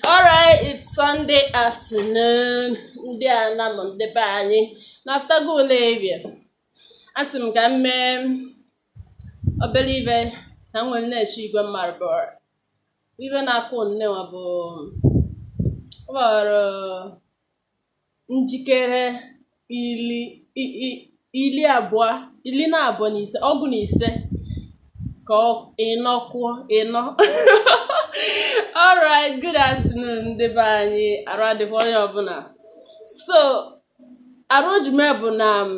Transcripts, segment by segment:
alright it's Sunday afternoon ndị a na m ndị be anyị na-apụtago ụlọ area asị m ka m mee obele ive na m nwere na-eche igwe mmadụ ive na-akụ nnewa bụ ọ gbara njikere ili ili abụọ ili na abụọ na ise ọgụ na ise ka ịnọ kụọ ịnọ alright good afternoon ndị be anyị arụ adịkwa onye ọbụla so arụ ojume bụ na um,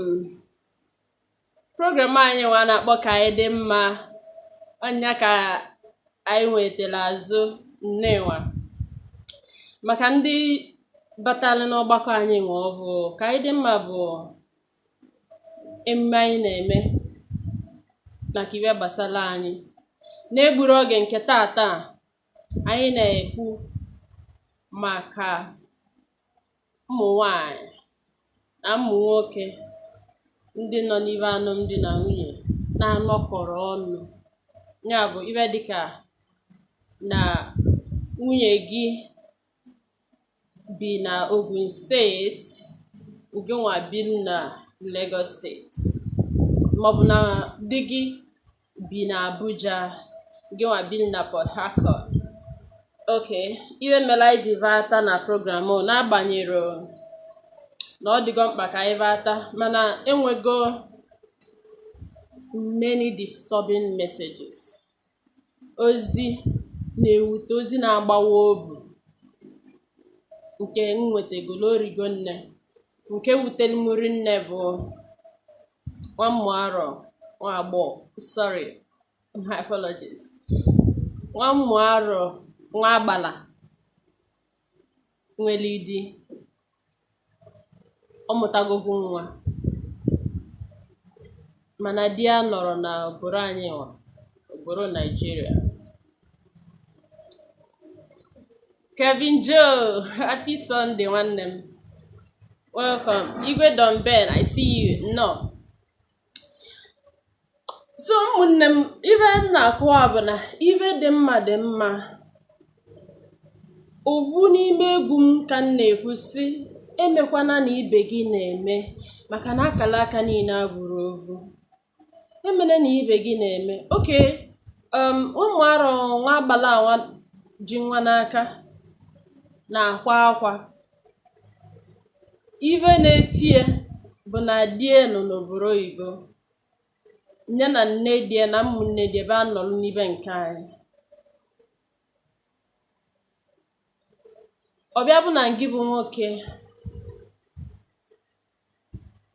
program anyị nwa na-akpọ ka anyị dị mma ọ nya ka anyị nwetara azụ nnewa maka ndị batara n'ọgbakọ anyị nwa ọvụ ka anyị dị mma bụ emume anyị na-eme maka ive gbasara anyị n'egburu oge nke tata anyị na-ekwu maka ụmụ nwanyị na ụmụ nwoke ndị nọ n'ive alụmdi na nwunye na-anọkọrọ ọnụ ya bụ ive dịka na nwunye gị bi na Ogun steeti gịnwa bi na Lagos steeti maọbụ na di gị bi na Abuja gịnwa bi na Port Harcourt okay ive mere anyị ji vata na program n'agbanyeghị na ọ dịgo mkpa ka anyị vata mana enwego many disturbing messages ozi na-ewute ozi na-agbawa obu nke m nwetagolo o rigo nne nke wutere m rinne bụ nwa mmụọ arọ nwa agbọghọ sorry my apologies nwa mmụọ arọ nwa agbala nwere di ọ mụtagokwu nwa mana di ya nọrọ na obodo anyị nwa obodo naijiria Kevin Joe, happy Sunday, nwanne m. Welcome. Igwe Don Ben, I see you. Nnọọ. So ụmụnne m ive m na-akọwa bụ na ive dị mma dị mma ovu n'ime egwu m ka m na-ekwu sị emekwana na ibe gị na-eme maka na akala aka niile abụrụ ovu emene na ibe gị na-eme okay ụmụ arọ nwa agbala awa ji nwa n'aka na-akwa akwa ive na-etie bụ na die nọ n'obodo oyibo nya na nne die na ụmụnne die ebe a nọrọ n'ibe nke anyị ọ bịa bụ na ngị bụ nwoke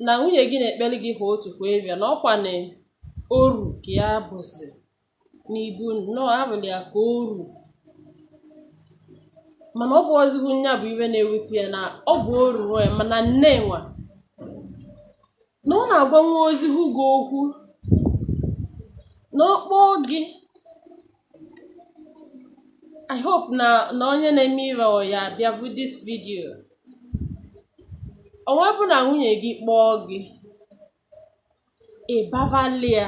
na nwunye gị na-ekpeli gị ha otu kwa ịbịa na ọkwa na oru ka ya bụzi n'ibu nnọọ abụla ya ka oru mana ọ bụzịhụ nya bụ ive na-ewute ya na ọ bụ oru nwa ya mana nne nwa na ọ na-agwa nwa ozihu gị okwu na ọ kpọọ gị I hope na na onye na-eme ive a ya-abịa vụ this video onwe bụ na nwunye gị kpọọ gị ị bavali ya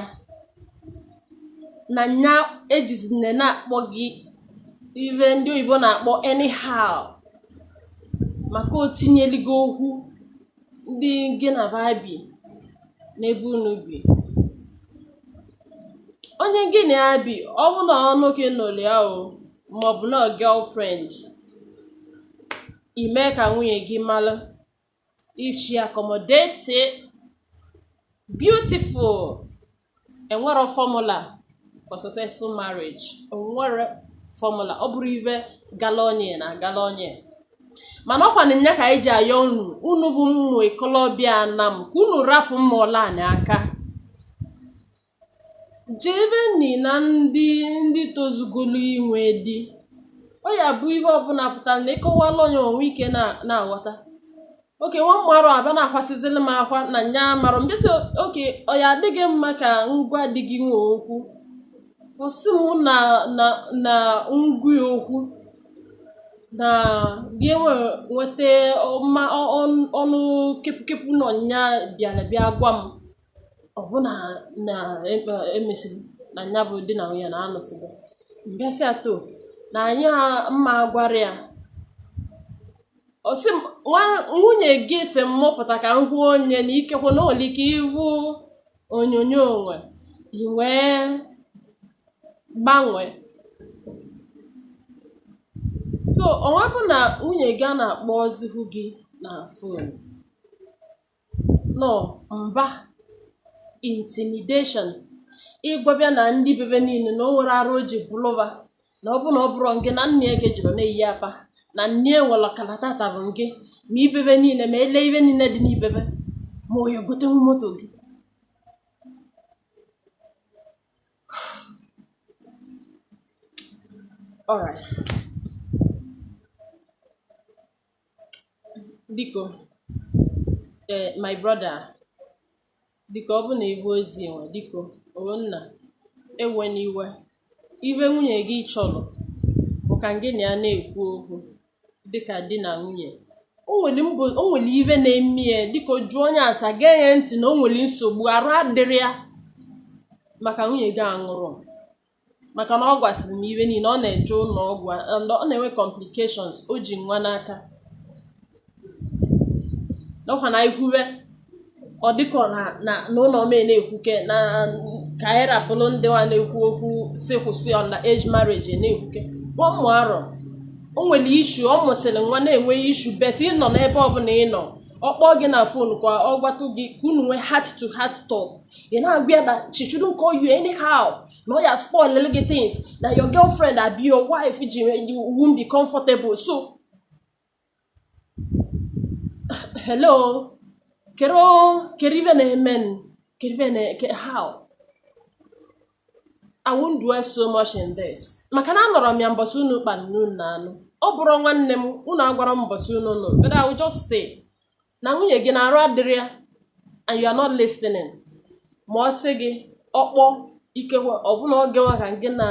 na nya ejizine na-akpọ gị ive ndị oyibo na-akpọ anyhow maka o tinyeligo okwu ndị gị na va bi n'ebe unu bi onye gị na ya bi ọ bụ na ọnụ gị nụrụ ya o maọbụ na girlfriend i mee ka nwunye gị mara if she accommodate it beautiful enwerọ formula for successful marriage enwerọ formula ọ bụrọ ive gala onye na-agala onye mana ọkwa na nya ka anyị ji ayọ unu unu bụ mmụ ikolobịa na m ka unu rapụ mma ọla anyị aka jeveni na ndị ndị tozugolu inwe di ọ ya bụ ihe ọbụla pụtara na ịkọwala onye o nwee ike na- na-aghọta okay nwa mmarụ abịa na-akwasịzili m akwa na nya marọ m bịa sị okay ọ ya adịghị mma ka m gwa di gị nwa okwu ọ sị m na na na m gwa okwu na gị enwe nweta ọma ọ- ọ- ọnụ kepụkepụ nọ nya bịara bịa gwa m ọbụna na e- emesiri na nya bụ di na nwunye na anụsịgo m bịa sị ato na anyị a- mma agwara ya ọ sị nwunye gị si m mụpụta ka m hụ onye na ikekwe na o nwelu ike ịhụ onyonyo onwe i wee gbanwee so onwe bụ na nwunye gị ana-akpọzihu gị na fon nọ mba intimidation ị gwaba ya na ndị bebe niile na o nwere arụ o ji bụlụba na ọ bụ na ọ bụrụ ngị na nne gị jụrụ na-eyi apa na nne nwere ọkara tata bụ ngị ma ibebe niile ma ele ive niile dị n'ibebe ma ọ ya-egotenwu moto gị All right. biko ee my brother biko ọ bụ na ịbụ ozi enwe biko o nna ewena iwe ive nwunye gị chọrọ bụ ka gị na ya na-ekwu okwu dịka di na nwunye o nwere mbụ o nwere ive na-eme ya biko jụọ nya ase gee ya ntị na o nwere nsogbu arụ adịrọ ya maka nwunye gị a nụrụ maka na ọ gwasịrị m ive niile ọ na-eje ụlọ ọgwụ a- and ọ na-enwe complications o ji nwa n'aka ọ kwa na ị kwuwe ọ dịka ọ na- na na ụlọ m na-ekwuke na ka anyị rapụrụ ndị wa na-ekwu okwu sị kwụsị underage marriage na-ekwuke ụmụ arọ o nwere issue ọ mụsịrị nwa na-enwe issue but ị nọ n'ebe ọbụla ị nọ ọ kpọọ gị na phone ka ọ gwatụ gị ka unu nwee heart to heart talk ị na-agwa ya na she shouldn't call you anyhow na ọ ya spoil gị things na your girlfriend abi your wife ji you won't be comfortable so hello kedụ kedụ ive na-eme n kedụ ive na ke- how I won't dwell so much in this maka na anọrọ m ya mbọsị unu kpara na unu na-anụ ọ bụrụ nwanne m unu agwarọ m mbọsị unu nụ but I will just say na nwunye gị na arụ adịrọ ya and you are not listening ma ọ sị gị ọ kpọọ ikekwe ọ bụ na oge nwa ka gị na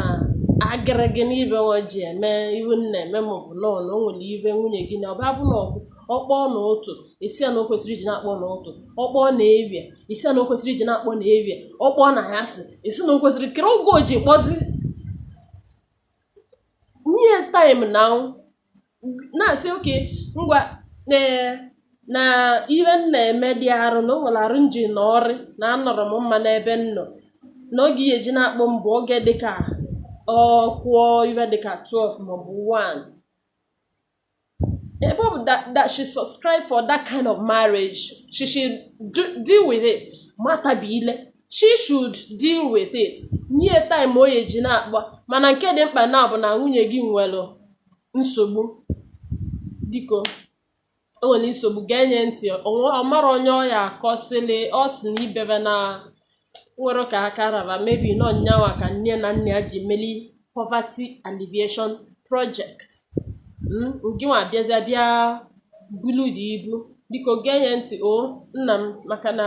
agịrị gị n'ibe nwa ji eme ive unu na-eme ma ọ bụ nọọ na o nwere ive nwunye gị na ọba bụ na ọkụ ọ kpọọ n'ụtụtụ ị sị ya na o kwesirọ iji na-akpọ n'ụtụtụ ọ kpọọ n'evivie ị sị ya na o kwesirọ iji na-akpọ n'evivie ọ kpọọ n'anyasị ị sị na o kwesirọ kedụ oge o ji kpọzi nye time na na-asị okay ngwa na ihe m na-eme dị arụ na o nwere arụ m ji na ọrị na anọrọ m mma n'ebe m nọ na oge ị ya-eji na-akpọ m bụ oge dịka ọ kụọ ive dịka 12 maọbụ 1 ebe ọ bụ that she subscribe for that kind of marriage she should deal with it matabi ile she should deal with it nye time o ji na-akpọ mana nke dị mkpa na ọ bụ na nwunye gị nwere nsogbu biko o nwere nsogbu gee nye ntị ọ mara onye ọ ya-akọsịlị ọ sị na ibebe na nwere ka aka raba maybe na ọ nyanwa ka nne na nna ya ji meli poverty alleviation project hmm, ngịnwa bịazịa bịa bulu the ibu biko gee nye ntị o nna m maka na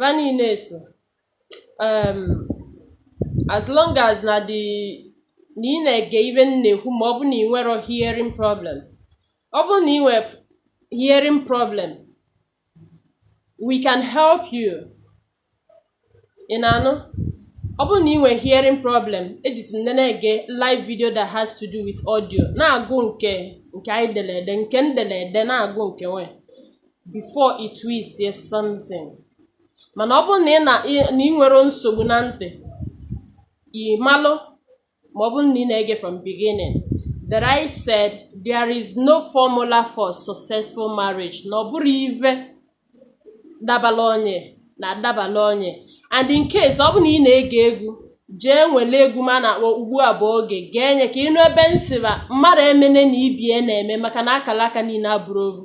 Va niine so um, as long as na the na ị na-ege ive m na-ekwu ma ọ bụ na ị nwere hearing problem ọ bụ na ị nwere hearing problem we can help you ị na-anụ ọ bụrụ na ị nwere hearing problem ejezine na-ege live video that has to do with audio na-agụ nke nke anyị dere ede nke m dere ede na-agụ nke nwe before i twist something mana ọ bụrụ na ị nwere nsogbu na ntị ị malụ ma ọ bụrụ na ị na-ege from beginning that I said there is no formula for successful marriage na ọ bụrụ ive dabala onye na adabala onye and in case ọ bụ na ị na-ege egwu jee nwere egwu m a na-akpọ ugbu a bụ oge gee nye ka ị nụ ebe m sị va mmadụ emene na ibie na-eme maka na akala aka niile abụrọ ovu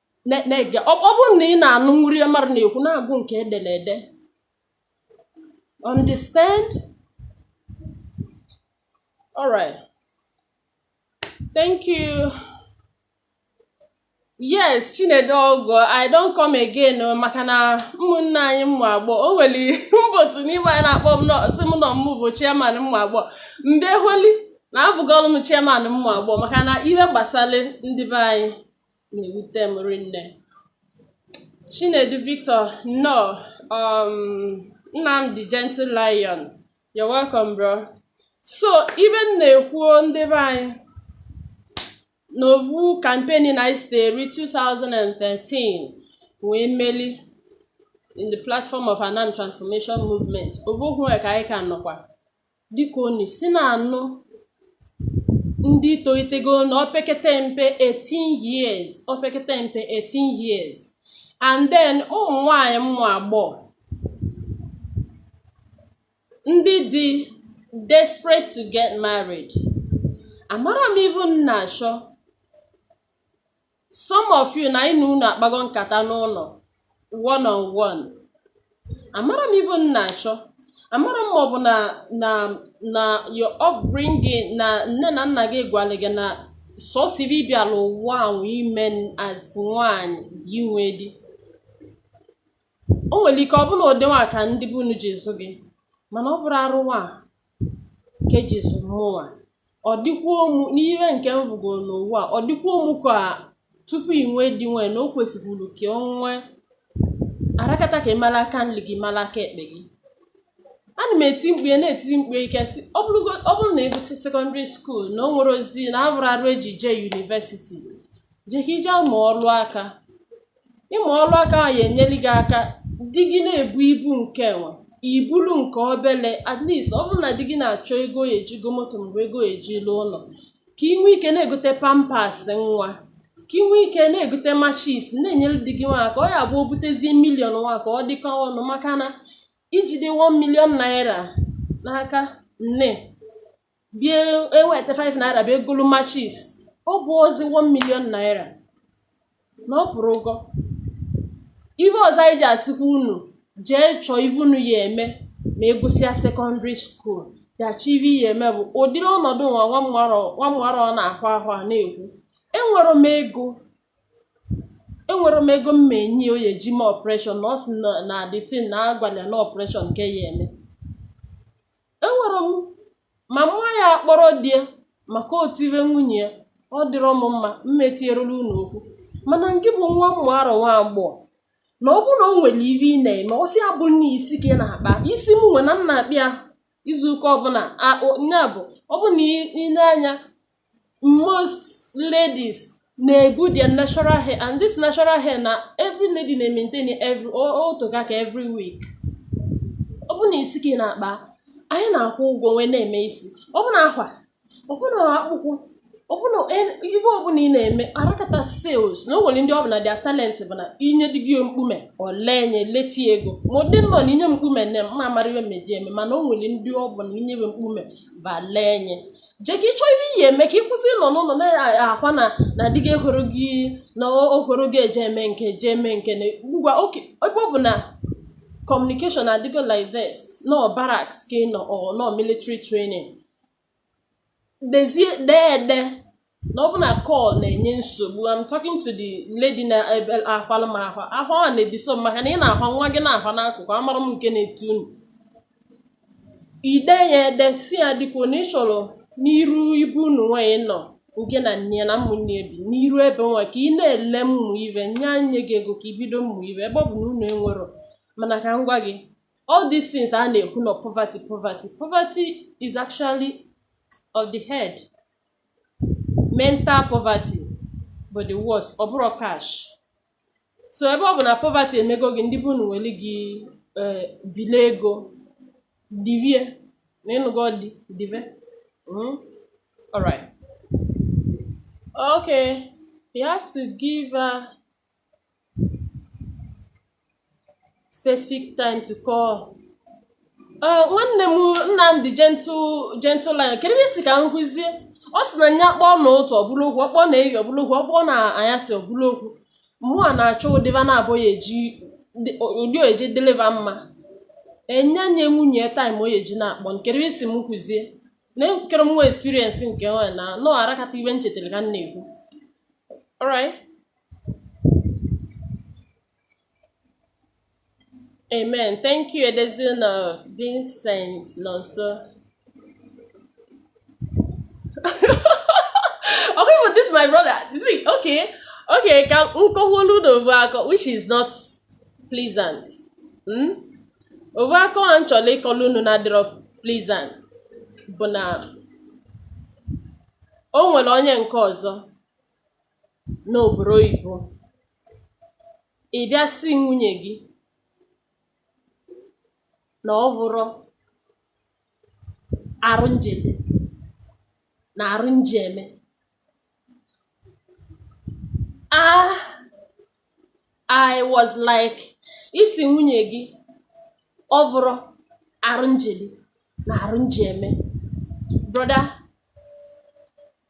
na-ege ọ bụrụ na ị na-anụrọ ive mmadụ na-ekwu na-agụ nke e dere ede understand alright thank you yes chinedu ọgọ i don come again oh, maka na ụmụnne anyị ụmụ agbọ o nwere mbe otu n'ime anyị na-akpọ m sị m na ọ m bụ chairman ụmụ agbọ mbe holi na abụgọlụ m chairman ụmụ agbọ maka na ihe gbasara ndị be anyị na-ewute m rinne Chinedu Victor nnọọ, Nnamdi Gentle Lion you're welcome bro so ive m na-ekwu o ndị be anyị n'ovu campaign anyị si eri 2013 wee meli in the platform of Anam Transformation Movement ovu ahụ ka anyị ka nọkwa dịka unu si na-anụ ndị tolitego na opekete mpe 18 years opekete mpe 18 years and then ụmụ nwanyị ụmụ agbọ ndị dị desperate to get married amara m ive unu na-achọ some of you na anyị na unu akpago nkata n'ụlọ one on one amara m ive unu na-achọ amara m maọbụ na na na your upbringing na nne na nna gị gwara gị na sọsọ ive ị bịara ụwa ahụ ime as nwaanyị inwe di o nwere ike ọ bụ na ụdị nwa ka ndị be unu ji zụ gị mana ọ bụrọ arụ nwa ka eji zụ mụnwa ọ dịkwuo mụ n'ihe nke m vụgo n'ụwa ọ dịkwuo mụ ka tupu ị nwee di nwee na o kwesịburu ka ọ nwee arakata ka ị mara aka nri gị mara aka ekpe gị ana m eti mkpu na-etiri mkpu ike sị ọ bụrụ na ị gụsị sekọndịrị skuul na o nwerọzi na ahụrọ arụ eji jee yunivesiti jee ka ị je mụọ ọrụ aka ịmụ ọrụ aka nwa ya enyere gị aka di gị na-ebu ibu nke enwe i buru nke obele at least ọ bụrụ na di gị na-achọ ego ya eji go moto maọbụ ego ya eji lụ ụlọ ka ị nwee ike na-egote pampas nwa ka ị nwee ike na-egote machis na-enyere di gị nwa aka ọ ya abụ o butezie milion nwa ka ọ dịkọ ọnụ maka na i jide 1 milion naira n'aka nne bịa eweta 5 naira bịa egolu machis ọ bụrọzi 1 million naira na ọ pụrụgo ive ọzọ anyị ji asịkwa unu jee chọọ ive unu ya eme ma ị gụsịa sekọndịrị skuul bịa chọọ ive ị ya eme bụ ụdịrị ọnọdụ nwa nwa mmarọ ọ na-ahụ ahụ a na-ekwu enwerọ m ego enwerọ m ego m ma enye ya ọ ya eji me ọpreshọn na ọ sị na na adịtin na agwala na ọpreshọn ka ọ ya eme enwere m ma mma ya akpọrọ di ya maka otiwe nwunye ya ọ dịrọ m mma mma etierela unu okwu mana ngị bụ nwa mmụ arọ nwa agbọghọ na ọ bụrụ na o nwere ive ị na-eme ọ sị abụ na isi ka ị na-akpa isi m nwa na ana akpa ya izu ụka ọbụla nya bụ ọ bụ na ị na-anya most ladies na-ebu their natural hair and this natural hair na every lady na-maintain otoga ka every week ọ bụ na isi ka ị na-akpa anyị na-akwụ ụgwọ wee na-eme isi ọ bụ na akwa ọ bụ na akpụkwụ ọ bụ na ihe ọbụla ị na-eme arakata sales na o nwere ndị ọ bụ na their talent bụ na inye dị gị mkpume o lee nye leti ego ma ọ dị nnọọ na inye m mkpume nne m ma amara ihe m eji eme mana o nwere ndị ọ bụ na inye be mkpume ba lee nye jee ka ị chọọ ihe ị ya eme ka ị kwụsị ịnọ n'ụlọ na-akwa na na di gị akpọrọ gị na ọ kpọrọ gị eje eme nke eje eme nke na ngwa okay ebe ọ bụ na communication adịgo like this na barracks ka ị nọ or na military training dezie dee ede na ọ bụ na call na-enye nsogbu I'm talking to the lady na ebe akwala m ahụ ahụ a na-ediso m maka na ị na-ahwa nwa gị na-ahwa n'akụkụ amara m nke na-etu unu ide ya ede si ya dịka na ị chọrọ n'iru be unu nwaanyị nọ nke na nne ya na ụmụnne ya bi n'iru ebe nwa ka ị na-ele ụmụ ive nye nye gị ego ka ibido ụmụ ive ebe ọ bụ na unu enwero mana ka m gwa gị all these things a na-ekwu na poverty poverty poverty is actually of the head mental poverty bụ the worst ọ bụrọ cash so ebe ọ bụ na poverty emego gị ndị be unu were gị eh, bili ego divie nna ịnụgo di dive mm? alright okay you have to give her specific time to call uh, nwanne m Nnamdi gentle gentle line kedu ebe isi ka m kwuzie ọ sị na nya kpọọ n'ụtụtụ ọ bụlụ okwu ọ kpọọ n'ehihie ọ bụlụ okwu ọ kpọọ n'anyasị ọ bụlụ okwu mụa na-achọ ụdịba na-abụghị eji ụdị ọ ya-eji dịlị va mma enye nye nwunye time ọ ya-eji na-akpọ nkere isi m kwuzie na nkere m nwe experience nke nwa na nọ arakata ive nchetara ka m na-ekwu alright Amen. Thank you, Edezino Vincent Nonso. okay, but this is my brother. You see, okay, okay, ka nkọọlụ unu ovu akọ, which is not pleasant. Hmm? Ovu akọ a nchọrọ ịkọlụ unu na-adịrọ pleasant bụ na o nwere onye nke ọzọ n'obodo oyibo ị bịa sị nwunye gị na ọ bụrọ arụ njede na arụ nji eme ah I was like ị sị nwunye gị ọ bụrọ arụ njede na arụ nji eme brother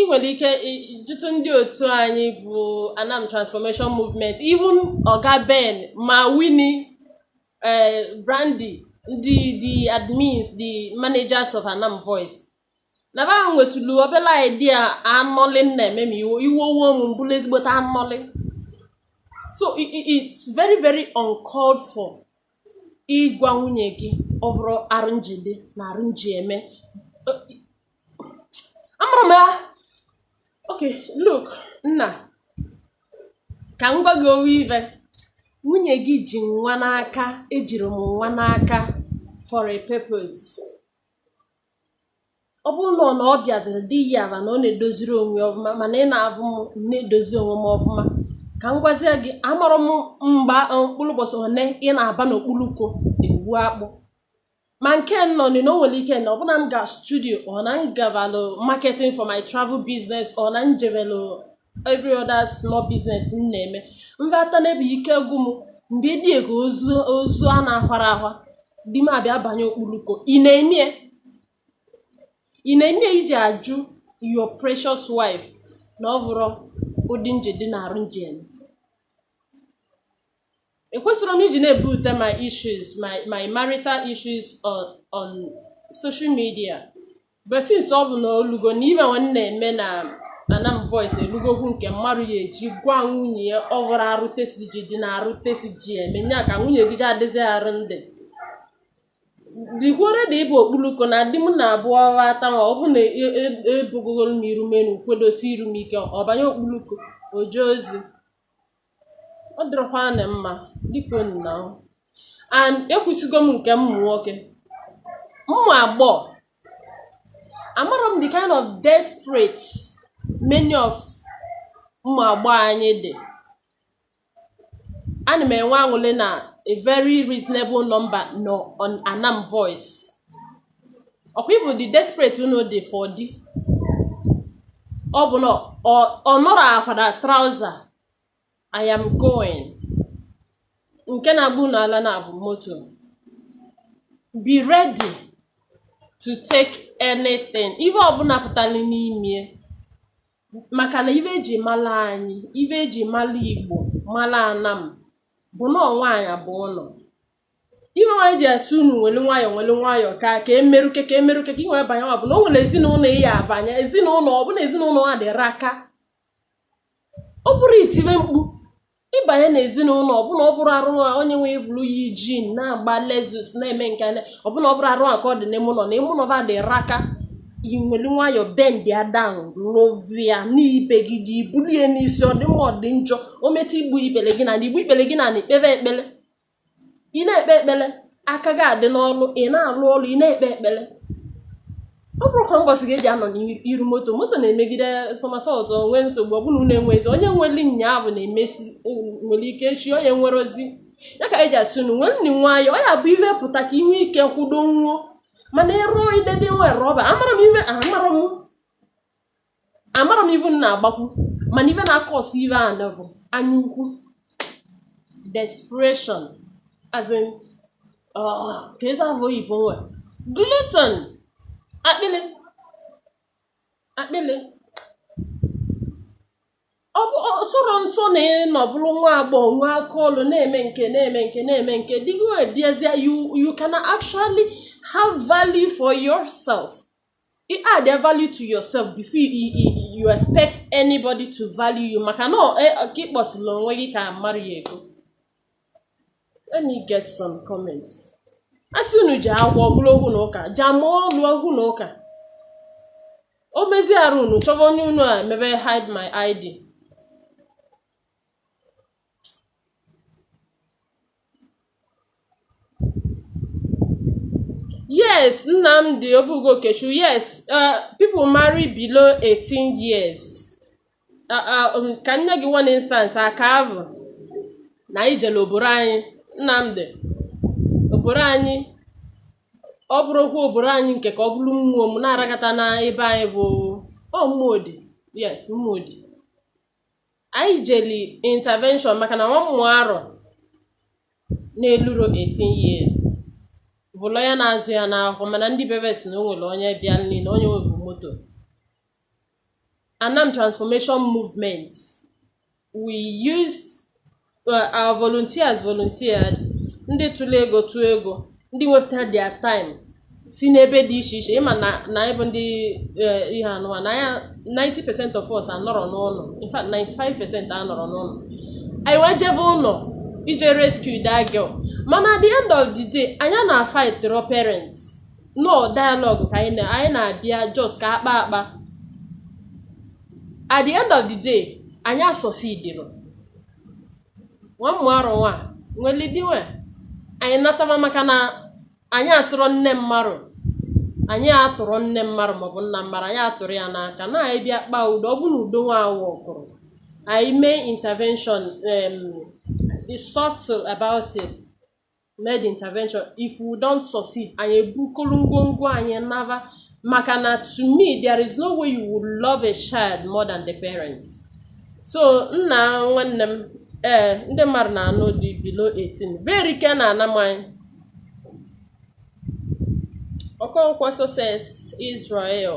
ị nwere ike jụtụ ndị otu anyị bụ Anam Transformation Movement even Oga Ben ma Winnie eh, Brandy ndị the admins the managers of Anam Voice na ba nwetụlụ obere idea anọlị m na-eme ma iwe we m m bụrụ ezigbote anọlị so it's very very uncalled for ịgwa nwunye gị ọ bụrụ arụ njide na arụ nji eme amarọ m ya okay look nna ka m gwa gị ovu ive nwunye gị ji nwa n'aka ejiri m nwa n'aka for a purpose ọ bụrụ na ọ na ọ bịaziri dị ya aba na ọ na-edoziri onwe ya ọfụma mana ị na-avụ m m na-edozi onwe m ọfụma ka m gwazie gị amarọ m mgba mkpụrụ ụbọchị one ị na-aba n'okpuru uko egbu akpụ ma nke nọ nị na o nwere ike na ọbụna m ga studio or na m gabalụ marketing for my travel business or na m jebelụ every other small business m na-eme m bata n'ebe ike gwụ m mgbe dịka ozu a na-ahwara ahwa di m abịa banye okpuluko ị na-eme ya? ị na-eme ya iji ajụ your precious wife na ọ bụrọ ụdị m ji dị na arụ m ji eme ekwesirọ m iji na-ebute my issues my my marital issues on on social media but since ọ bụ na olugo na ife nwe na-eme na anam voice elugokwu nke mmadụ ya eji gwa nwunye ya ọ bụrụ arụ tesi ji dị na arụ tesi ji eme nya ka nwunye gị ji adịzi arụ ndị dikwuore da ịbụ okpuluko na di m na-abụ ọ bata ma ọ bụ na ebugogoro m iru menu kwedosi iru m ike ọ banye okpuluko o je ozi ọ dịrọkwanụ mma dịka unu na ahụ and ekwusigo m nke ụmụ nwoke ụmụ agbọghọ amara m the kind of desperate many of ụmụ agbọghọ anyị dị ana m enwe aṅụlị na a very reasonable number nọ on anam voice ọkwa ịbụ the desperate unu dị for di ọ bụ na ọ nọrọ akwa na trouser I am going nke na-agba unu ala na-abụ moto be ready to take anything ihe ọbụla pụtara n'ime maka na ife eji mala anyị ife eji mala igbo mala anam bụ na nwaanyị bụ ụlọ ihe nwaanyị ji asị unu nwere nwayọọ nwere nwayọọ ka ka emerụke ka emerụke ka ị nwee banye ọ bụ na o nwere ezinụlọ ị ya abanye ezinụlọ ọ bụ na ezinụlọ ha dịrị aka ọ bụrụ itiwe mkpu ịbanye na ezinụlọ ọbụna ọ bụrụ arụ nwa onye nwe bụrụ ya ijin na-agba lexus na-eme nke na ọbụna ọ bụrụ arụ nwa ka ọ dị n'ime ụlọ na ime ụlọ ba dịrị aka i nwere nwayọọ bend ya down love ya n'ibe gị dị i bulie n'isi ọ dị mma ọ dị njọ o metụ igbu ikpere gị na igbu ikpere gị na-ekpe ekpere ị na-ekpe ekpere aka gị adị n'ọrụ ị na-alụ ọrụ ị na-ekpe ekpere ọ bụrụ ka mbọsị gị eji anọ n'iru moto moto na-emegide somersault o nwe nsogbu ọbụla unu enwezi onye nweli nyaabụ na-emesi nwere ike echi onye nwere ozi ya ka eji asị unu nwerenụ nwayọ ọ ya bụ ihe pụta ka ị nwee ike kwudo nwụọ mana ịrụọ idede nwe rọba amara m ihe amara m amara m ive unu na-agbakwu mana ive na-akọsụ ive a bụ anya ukwu desperation as in ah, ka ezi afọ oyibo nwe glutton akpịlị akpịlị ọ bụ ọ sọrọ nsọ na ị nọ bụrụ nwa agbọghọ nwee aka ọlụ na-eme nke na-eme nke na-eme nke dịgo ebiazie you you can actually have value for yourself you add a value to yourself before you, you, you expect anybody to value you maka na e, ka i kposili onwe gị ka mmarụ ya-ego let me get some comments a sị unu jee agụ ọ bụrụ okwu na ụka jee mụọ ọlụ okwu na ụka o mezie arụ unu chọba onye unu a emebe hide my ID Yes, Nnamdi Obugokechu, yes, uh, people marry below 18 years. Uh, uh, um, ka m nye gị one instance aka avụ na anyị jere oboro anyị Nnamdi oboro anyị ọ bụrụkwa oboro anyị nke ka ọ bụrụ mmụọ m na-aragata na ebe anyị bụ ọ mmụọ dị yes mmụọ dị anyị jeli intervention maka na nwa ụmụarọ na-eluro 18 years bro ya na-azụ ya n'ahụ mana ndị be ve sị na o nwere onye bịa nri na onye nwebu moto Anam Transformation Movement we used uh, our volunteers volunteered ndị tụrụ ego tụọ ego ndị wepụtara their time si n'ebe dị iche iche ị ma na na anyị bụ ndị eh, ihe anụwa na anya 90% of us anọrọ n'ụlọ in fact 95% anọrọ n'ụlọ anyị wee jebe ụlọ ije rescue that girl mana at the end of the day anyị ana-afightrọ parents no dialogue ka anyị na- anyị na-abịa just ka a kpaa akpa at the end of the day anyị asọsidịrọ nwa ụmụarọ nwa nweli di nwe anyị nataba maka na anyị asurọ nne mmarụ anyị atụrọ nne mmarụ maọbụ nna mmarụ anyị atụrọ ya n'aka na anyị bịa kpaa udo ọ bụ na udo nwa awọkụrọ anyị mee intervention um, discuss about it mee the intervention if we don't succeed anyị ebukolu ngwongwo anyị naba maka na to me there is no way you would love a child more than the parents so nna nwanne m ee eh, ndị mmarụ na-anụ di below 18 ve erika n'Anam anyị Okonkwo Success Israel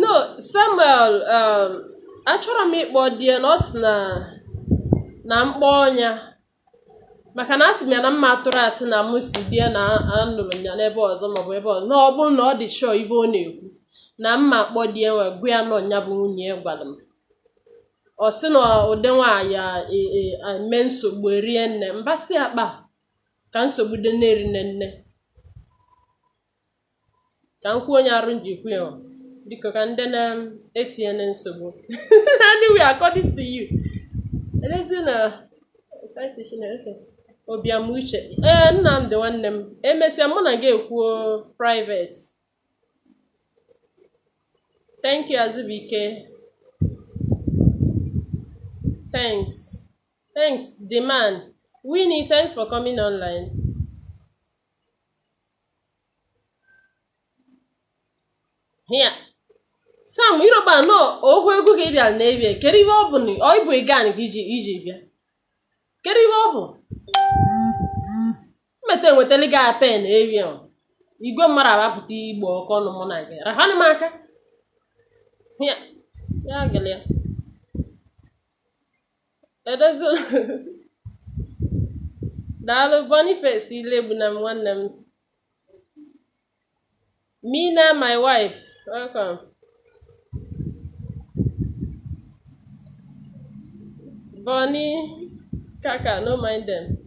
no samuel um, achọrọ m ịkpọ di ya na ọ sị na na m kpọọ nya maka na asị m ya na m ma atụrụ asị na mụ sị di ya na anụrụ m ya n'ebe ọzọ maọbụ ebe ọzọ na ọ bụrụ na ọ dị sure ife ọ na-ekwu na m ma akpọ di ya wee gwa ya na ọ nya bụ nwunye ya gwara m ọ sị na ụdị nwaanyị a e- e- a eme nsogbu erie nne mbasị akpa ka nsogbu dị na-eri nne nne ka m kwuo onye arụ m ji kwu ya o. biko ka ndị na-etinye na nsogbu anyway according to you elezi na site Chineke Obiam Uche ee Nnamdị nwanne m emesịa mụ na gị ekwuo private thank you Azụbụike thanks thanks the man Winnie thanks for coming online ya Sam Iroba no okwu egwu ka ị bịara n'ebie kedu ihe ọ bụ na ọ ịbụ ịgan ka i ji i ji bịa kedu ihe ọ bụ mmeta enwetali gị ape na ewi ahụ igwe mmadụ abapụta igbo ọkụ ọnụ mụ na gị rahanụ m aka ya ya gịlị ya edozila daalụ Boniface Ilegbunam nwanne m Mina my wife welcome Bonnie Kaka no mind them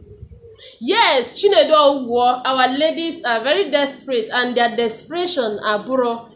yes Chinedu Owo our ladies are very desperate and their desperation abụrụ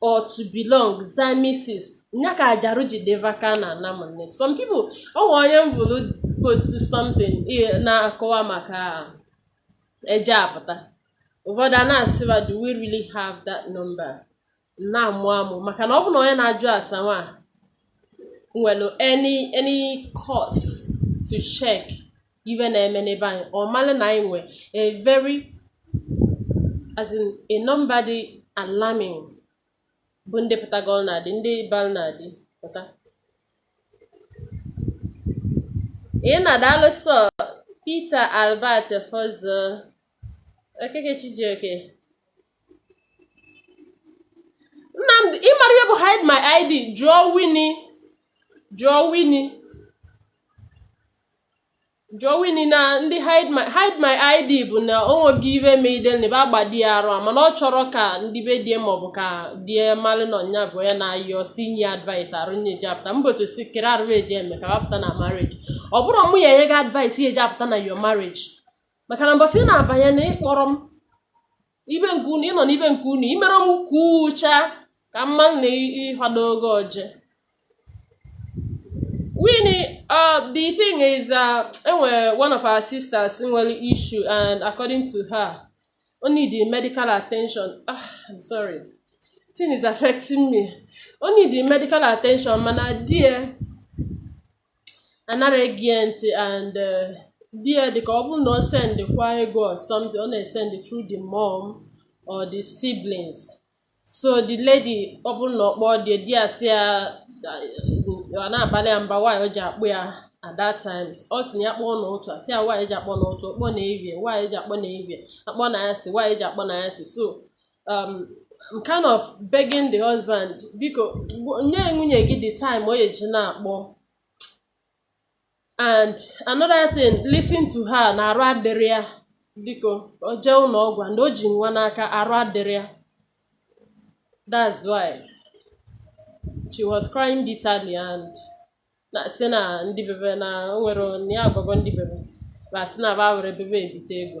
or to belong za Mrs nya ka ajarụ ji deva ka na ana m nne some people ọ nwe onye m bụrụ postuo something i- na-akọwa maka eje apụta ụfọdụ a na-asị ba do we really have that number na-amụ amụ maka na ọ bụ na onye na-ajụ ase nwa nwere any any cause to check ife na-eme n'ebe anyị ọ mara na anyị nwee a very as in a number dị alarming bụ ndị pụtagolu na di ndị balu na di pụta nna daalụ sọ Peter Albert Fozo Okeke Chijioke Nnamdi ị mara ihe bụ hide my ID jụọ Winnie jụọ Winnie jụọ Winnie na ndị hide my hide my id bụ na o nweghị ife ma idelne bụ agbadi ya arụ a mana ọ chọrọ ka ndị be die maọbụ ka die malụ na ọ nya bụ onye na-ayọ sị nye advice arụ nye eji apụta mbotu si kere arụ eji eme ka ba pụta na marriage ọ bụrọ mụ ya-enye gị advice ị ya-eji apụta na your marriage maka na mbọsị ị na-abanye na ị kpọrọ m n'ibe nke unu ịnọ n'ibe nke unu imere m kwuchaa ka mma na ịhado oge oje Winnie, uh, the thing is that uh, enwere one of our sisters nwere issue and according to her ọ need medical attention ah, I'm sorry thing is affecting me ọ need medical attention mana di ya anara ege ya ntị and eh, di ya dịka ọ bụrụ na ọ send kwa ego or something ọ na-esend through the mom or the siblings so the lady ọ bụrụ na ọ kpọọ di di ya sị ya ọ na-abalị ya mba why o ji akpọ ya at that time ọ sị na ya kpọọ n'ụtụtụ a sị ya why o ji akpọ n'ụtụtụ ọ kpọọ n'ehihie why o ji akpọ n'ehihie a kpọọ n'anyasị why o ji akpọ n'anyasị so um, I'm kind of begging the husband biko nye nwunye gị the time ọ ya-eji na-akpọ and another thing listen to her na arụ adịrị ya biko o jee ụlọ ọgwụ and o ji nwa n'aka arụ adịrị ya that's why she was crying bitterly and ọ sị na ndị be be na o nwere ya agwago ndị be be ba sị na ba nwerọ ebe ba ebite ego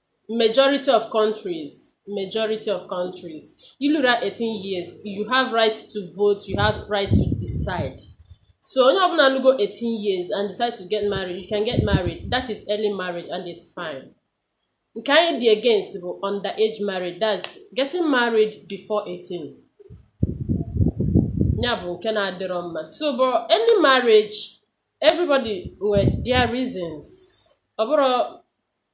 majority of countries majority of countries i luo 18 years you have right to vote you have right to decide so onye ọbụla lugo 18 years and decide to get married you can get married that is early marriage and it's fine nke anyị dị against bụ under age marriage that's getting married before 18 ya bụ nke na-adịrọ mma so but early marriage everybody nwere their reasons ọ bụrụ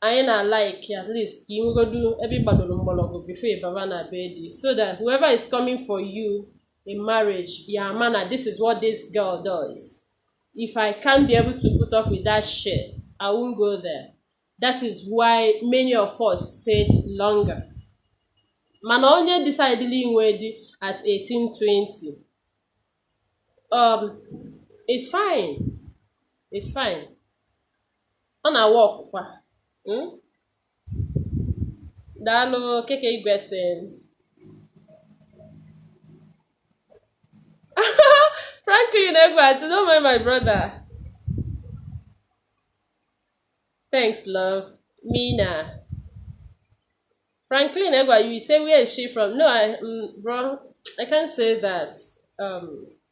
anyị na like at least ka ị nwegodu ebe ị gbadoro mgbọrọgwụ before ị baba na be di so that whoever is coming for you in marriage ya ama na this is what this girl does if i can't be able to put up with that shit i won't go there that is why many of us stayed longer mana onye decidelụ inwe di at 18 20 um it's fine it's fine ọ na-awa ọkụkwa hmm? daalụ keke igwe si Franklin Egwuatu, don't mind my brother. Thanks, love. Mina. Franklin Egwa, you say where is she from? No, I, um, bro, I can't say that. Um,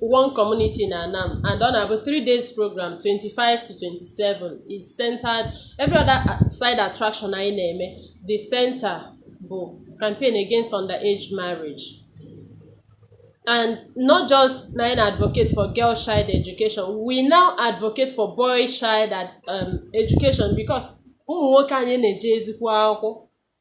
one community na Anam and ọ na-abụ three days program 25 to 27 is centered every other side attraction anyị na-eme the center bụ campaign against underage marriage and not just na-advocate for girl child education we now advocate for boy child um, education because ụmụ nwoke anyị na-ejezikwọ akwụkwọ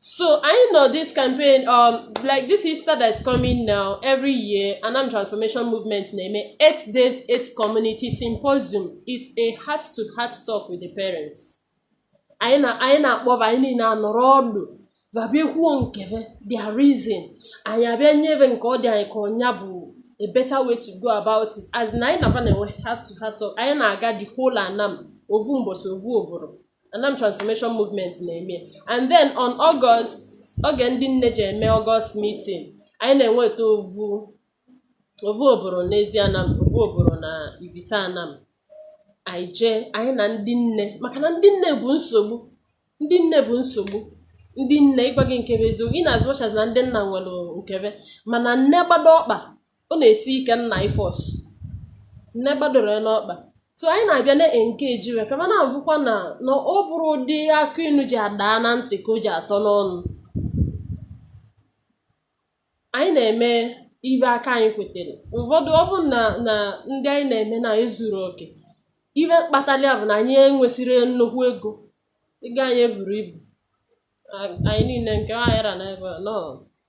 So I know this campaign, um, like this Easter that's coming now, every year, Anam Transformation Movement na-eme eight days, eight community symposium. It's a heart to heart talk with the parents. Anyị na-akpọ va, anyị niine anọrọ ọdụ. Ba abịa ekwuo nke ve, their reason. Anyị abịa nye ve nke ọ dị anyị ka ọ nya bụ a better way to go about it. As na anyị na-aba na-enwe heart to heart talk, anyị na-aga the whole Anam, ovu mbọsị ovu oboro. Anam Transformation Movement na-eme and then on August oge ndị nne ji eme August meeting anyị na-enweta ovu ovu oboro n'Ezi Anam ovu oboro na Ivite Anam anyị eje anyị na ndị nne maka na ndị nne bụ nsogbu ndị nne bụ nsogbu ndị nne ịgwa gị nke bụ eziokwu in as much as na ndị nna nwere nke be mana nne gbado ọkpa ọ na-esi ike nna i-force nne gbadoro n'ọkpa so anyị na-abịa na-engage ve kama na-abụkwa na na ọ bụrọ ụdị akụ inu ji ada na ntị ka o ji atọ n'ọnụ anyị na-eme ibe aka anyị kwetere ụfọdụ ọ bụ na ndị anyị na-eme na ezuro oke ibe kpatara ya bụ na anyị enwesịrọ nnukwu ego ego anyị eburo ibu A- anyị niine nke aghara na ebe a, nọọ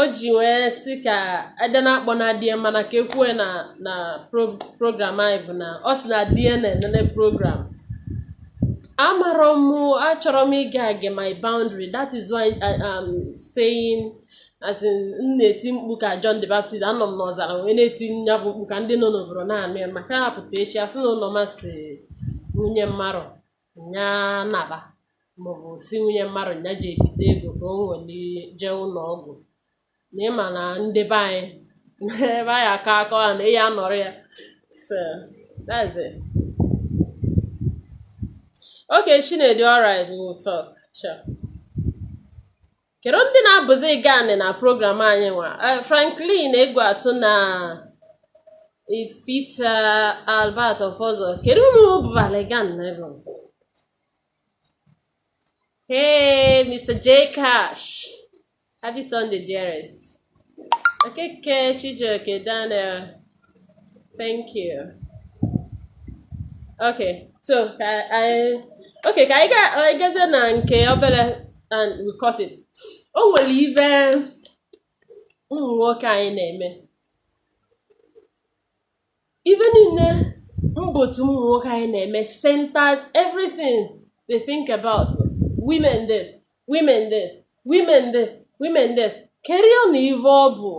o ji wee sị ka ede na-akpọ na di ye mana ka ekwue na na pro- program anyị bụ na ọ sị na di ye na-enene program amarọ m achọrọ m ịgafe my boundary that is why I am staying as in m na-eti mkpu ka John the Baptist anọ m n'ọzara wee na-eti ya bụ mkpu ka ndị nọ n'oboro na-anụ ya maka a ya-apụta echi asị na ụlọ masị nwunye mmarụ nya naba ma ọ bụ sị nwunye mmarụ nya jee bite ego ka o were jee ụnọ ọgwụ na ị ma na ndị be anyị ebe anyị akọ akọ ha na ihe anọrọ ya so that's it okay Chinedu alright we will talk sure kerụ ndị na-abụzi gani na program anyị nwa eh, Franklin Egwuatu na Peter Albert Ọfọzọ kerụ unu bụbali gan na ebe hey Mr. J Cash happy Sunday dearest Okeke Chijioke Daniel thank you okay so ka anyị gazie na nke obere and we cut it o nwere ibe ụmụ nwoke anyị na-eme ife niile mkpọtụ ụmụ nwoke anyị na-eme centers everything they think about women this women this women this women this kedu na ive ọ bụ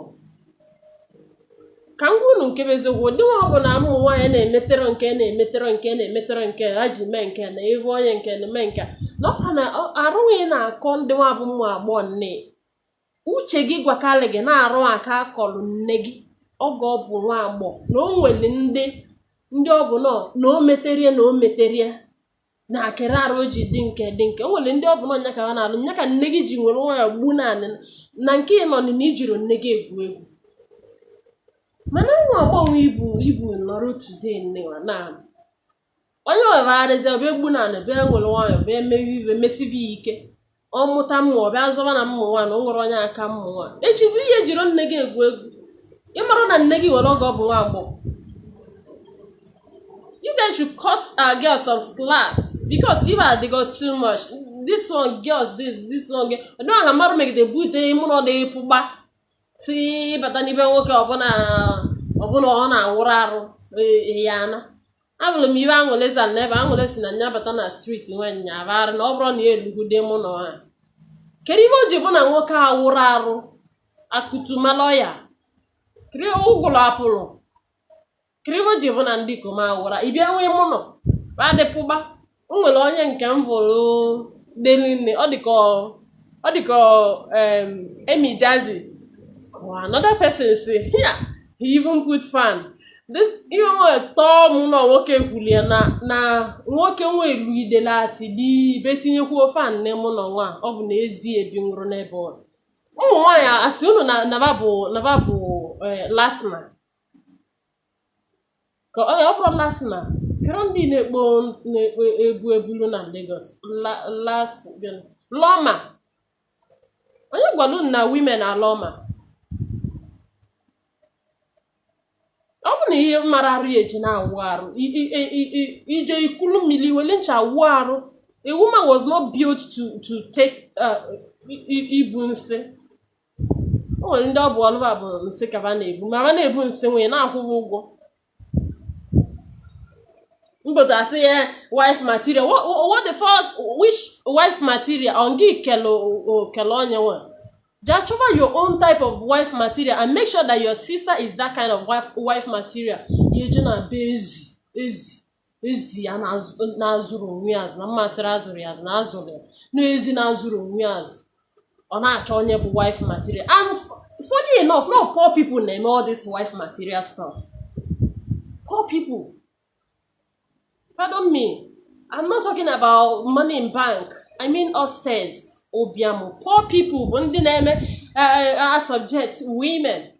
ka m gwa unu nke bụ eziokwu ụdị nwa ọbụla ụmụ nwaanyị na-emetọrọ nke na-emetọrọ nke na-emetọrọ nke ha ji mee nke na ive onye nke na mee nke na ọkwa na arụghị na-akọ ndị nwa bụ ụmụ agbọghọ nne uche gị gwakarị gị na arụ aka akọrọ nne gị oge ọ bụ nwa agbọghọ na o nwere ndị ndị ọ bụ nọ na o meterie na o meterie na akịrị arụ o ji dị nke dị nke o nwere ndị ọ bụ nọ nya ka ha na-alụ nya ka nne gị ji were nwayọ gbuo n'anị na nke ị nọ na ị jirọ nne gị egwu egwu mana nwa agbọghọ ibu ibu nọrọ today nnewa na onye wegharịzi ọ bịa egbu n'anị bịa were nwayọ bịa mewe ive mesibi ya ike ọ mụta ụmụ ọ bịa zọba na mụ nwa na o nwere onye aka mụ nwa echizi ihe jiri nne gị egwu egwu ị mara na nne gị nwere oge ọ bụ nwa agbọghọ you guys should cut our girls some slack because if I dey go too much this one girls this this one girl ọdụnwaga mmadụ megide bute mụ na ọ dịghị pụgba si bata na be nwoke ọbụla ọbụla ọ na-awụrụ arụ e, ya ana ahụrụ m ive aṅụle za na ebe aṅụle si na nya bata na street nwe nya arụ na ọ bụrụ na ya elugude mụ na ha kedu ive o ji bụ na nwoke awụrọ arụ akụtumaloya kiri ụgwụrụ apụrụ kedu ive o ji bụ na ndị ikom awụ arụ ị bịa nwee mụ nọ adịpụba o nwere onye nke m hụrụ deli nne ọ dịka ọ dịka em, emi jazi or another person say ya he even put fan this ihe nwe tọọ mụ na nwoke kwuru ya na na nwoke nwe elu idele ati dị ibe tinyekwuo fan nne mụ na nwa ọ bụ na ezi ebi nwụrụ n'ebe ọ nọ. ụmụ nwaanyị asị unu na na ba bụ na ba bụ eh, LASTMA ka ọ ọ bụrụ LASTMA kedu ndị na-ekpo na-ekpo ebu ebulu na Lagos La- las gịnị? LAWMA onye gwara unu na women are LAWMA ọ bụ na ihe mara arụ ya eji na-awụ arụ I- i- i- i- i- ị je ị kulu mmiri wele ncha wụọ arụ a woman was not built to to take uh, i- i- ibu nsị o nwere ndị ọ bụ ọlụ ba bụ nsị ka ba na-ebu ma ba na-ebu nsị wee na-akwụ ba ụgwọ mbodo asị ya wife material Wha- wha- what the fuck which wife material ọ gị kelu o- o- kelu onye nwe just chọba your own type of wife material and make sure that your sister is that kind of wife, wife material ya je na be ezi ezi ezi ya na-azụrụ onwe ya azụ na mmasịrị azụrụ ya azụ na azụrụ ya n'ezi na-azụrụ onwe ya azụ ọ na-achọ onye bụ wife material and funny enough nọ poor people na-eme all this wife material stuff poor people pardon me i'm not talking about money in bank i mean upstairs ụbịam poor people bụ ndị na-eme eh, eh, eh, subject women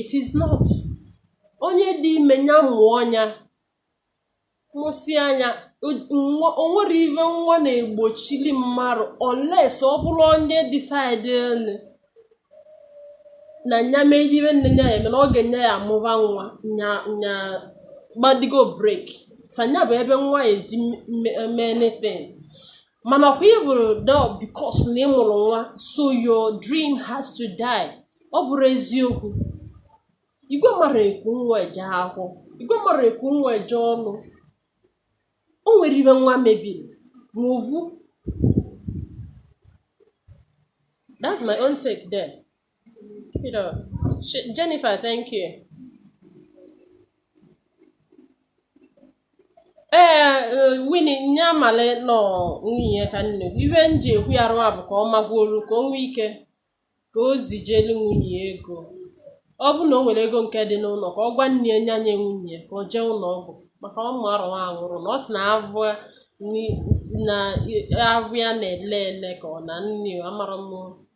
it is not onye dị ime nya mụọ nya mụsịa nya o nwere ive nwa na-egbochili mmadụ unless ọ bụrụ onye decidelụ na nya mee ive niine nya ya-eme na oge nya ya-amụba nwa nya nya gbadigo break sanya bụ ebe nwa ya eji mee anything mana ọkwa ịbụrụ dọ because na ị mụrụ nwa so your dream has to die ọ bụrọ eziokwu igwe mara eku nwa eje ahụ igwe mara eku nwa eje ọrụ o nwere ive nwa mebiri ma ovu that's my own take there You know, Jennifer, thank you. ee eh, wini nya amali nọ nwunye ka nne ife m ji ekwu ya rụwa bụ ka ọ magwuolu ka o nwee ike ka o zijelu nwunye ego ọ bụ na o nwere ego nke dị n'ụlọ ka ọ gwa nne ya nya nye nwunye ka o jee ụlọ ọgwụ maka ọ ma arụwa anwụrụ na ọ sị na avụ na avụ ya na-ele ele ka ọ na nne amarọ m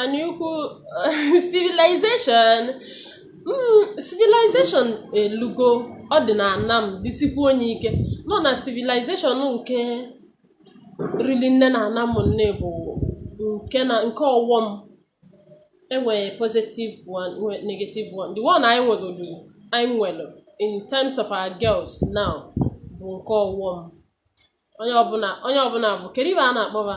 anyaukwu civilization mm, civilization elugo ọ dị na ana m disikwu onye ike nọ na civilization nke rili nne na ana m nne bụ nke na nke ọwọm enwere positive one nwe negative one the one anyị nwegodu anyị nwere in terms of our girls now bụ nke ọwọm onye ọbụla onye ọbụla bụ kedu ive a na-akpọ ba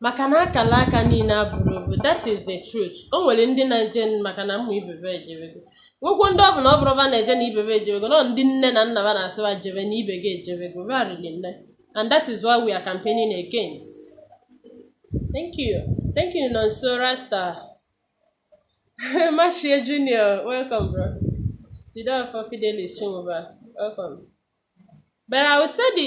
maka na akala aka niile abụrọ ovu that is the truth o nwere ndị na-eje maka na ụmụ ibe be ejebego nwekwo ndị ọ bụ na ọ bụrọ ba na-eje na ibe be ejebego nọ ndị nne na nna ba na-asị ba jebe na ibe gị ejebego ba rili nne and that is why we are campaigning against thank you thank you nonso rasta machie junior welcome bro jideofor fidelis chinwuba welcome but i will say the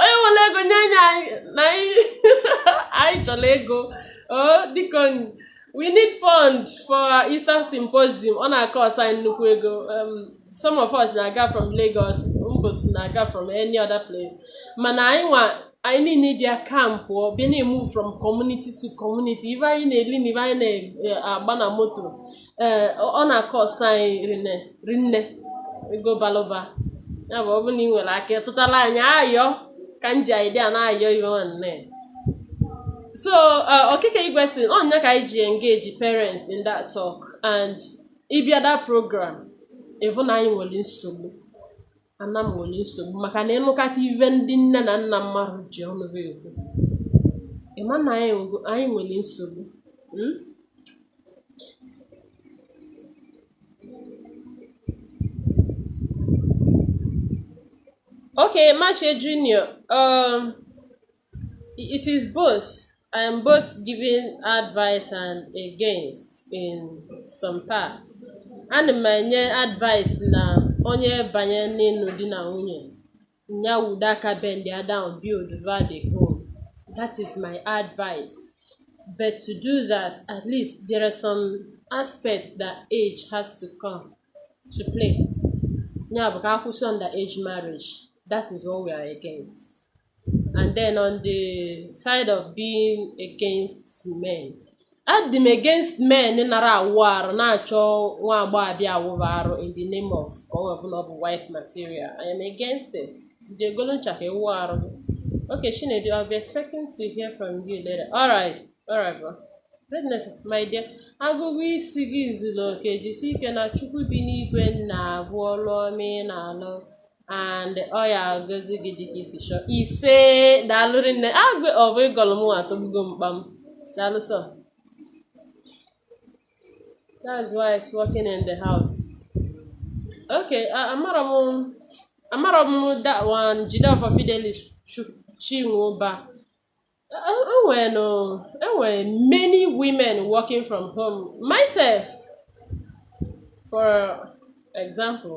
onye nwere ego nye anyị na anyị chọrọ ego oh, dịka we need fund for Easter symposium ọ na-akọsụ anyị nnukwu ego um, some of us na-aga from Lagos ụvọdụ na-aga from any other place mana anyị nwa anyị niile bịa kampụọ bịa na-emove from community to community ive anyị na-eli na ive anyị na-agba na moto ee ọ na-acost anyị rinne ego balụ ụba ya bụ ọ bụrụ na ị nwere aka ịtụtala anyị ayọ ka m ji idea na-ayọ ihe nwanne so uh, okike igwe si ọ nya ka anyị ji engage parents in that talk and ị bịa that program ị vụ na anyị nwere nsogbu ana m nwere nsogbu maka na ị nụkata ive ndị nne na nna mmadụ ji ọnụ ha ekwu ị ma na anyị nwe- anyị nwere nsogbu mm? Okay, Mashe Junior, um, It is both. I am both giving advice and against in some parts. Ana m enye advice na onye banye n'ịnụ di na nwunye ya wudo aka bendie down buildụba the home. That is my advice. But to do that, at least there are some aspects that age has to come to play. Ya bụ ka a kwụsị underage marriage. That is what we are against. and then on the side of being against men adị m against men na-anara awụ arụ na-achọ nwa agbọghọbịa awụrụ arụ in the name of ka ọ wee bụ na ọ bụ wife material I am against it jee golu ncha ka ị wụa arụ gị okay Chinedu I'll be expecting to hear from you later all right all right bro Greatness, my dear, agụgụ isi gị zuru oke jisie ike na Chukwu bi n'igwe na-avụ ọlụ ọma ị na-alụ and ọ ya-agọzi gị dịka i si chọọ ise daalụ rinne ịgọ ọfọ ị gọlụ m atọgbugo m kpam daalụ sọ that's why it's working in the house okay amarọ m amarọ m that one Jideọfọ Fidelis Chinwụba e nwere no e nwere many women working from home myself for example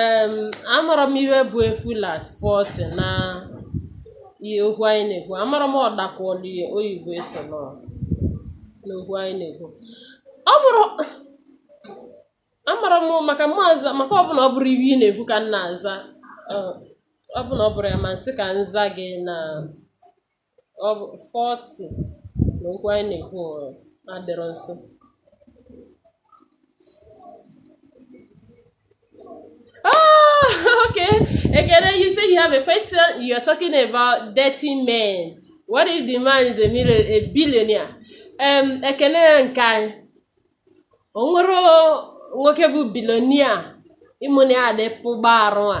em amarọ m ihe bụ a fool at 40 na ihe okwu anyị na-ekwu amarọ m ọdakwọlụ ya oyibo eso nọ n'okwu anyị na-ekwu ọ bụrụ amarọ m maka mụ aza maka ọ bụ na ọ bụrụ ihe ị na-ekwu ka m na-aza ọ- ọ bụ na ọ bụrụ ya ma m sị ka m zaa gị na ọ bụ 40 na okwu anyị na-ekwu ụrụ adịrọ nso Ah, okay. Ekene, you say you have a question. You are talking about dirty men. What if the man is a, million, a billionaire? Um, Ekene nke anyị. O nwerọ nwoke bụ billionaire ime unyi adị pụgba arụ a.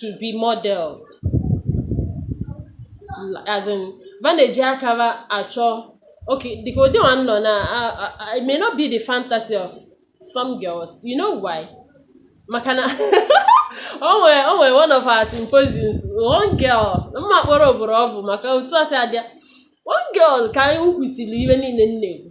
to be modeled as in va na-eji aka va achọ okay dịka ụdị nwaanụ na a- a- a- it may not be the fantasy of some girls you know why maka na o nwere o nwere one of our symposiums one girl m ma akpọrọ obodo ọ bụ maka otu a si adịa one girl ka anyị kwụsịrị iwe niile m na-ekwu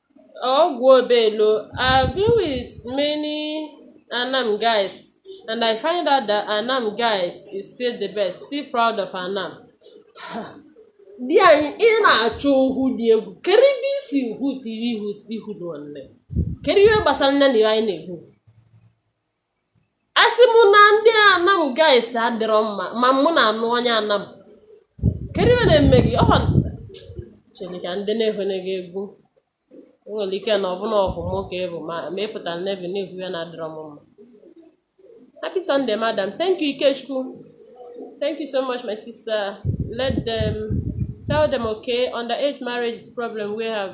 Ogwuobelo, I've been with many Anam guys and I find out that Anam guys is still the best, still proud of Anam. Di anyị ị na-achọ okwu dị egwu kedu ebe i si hụta ihu ihu nwanne kedu ihe gbasara nne na ya anyị na-ekwu asị m na ndị anam guys adịrọ mma ma mụ na-anụ onye anam kedu ihe na-eme gị ọhọ chere ka ndị na-ehwene gị egwu o nwere ike na ọbụna ọgọ m ka ị bụ ma ma ị pụtara n'ebe na-ekwu ihe na-adịrọ m mma happy sunday madam thank you ikechukwu thank you so much my sister let them tell them okay underage marriage is problem we have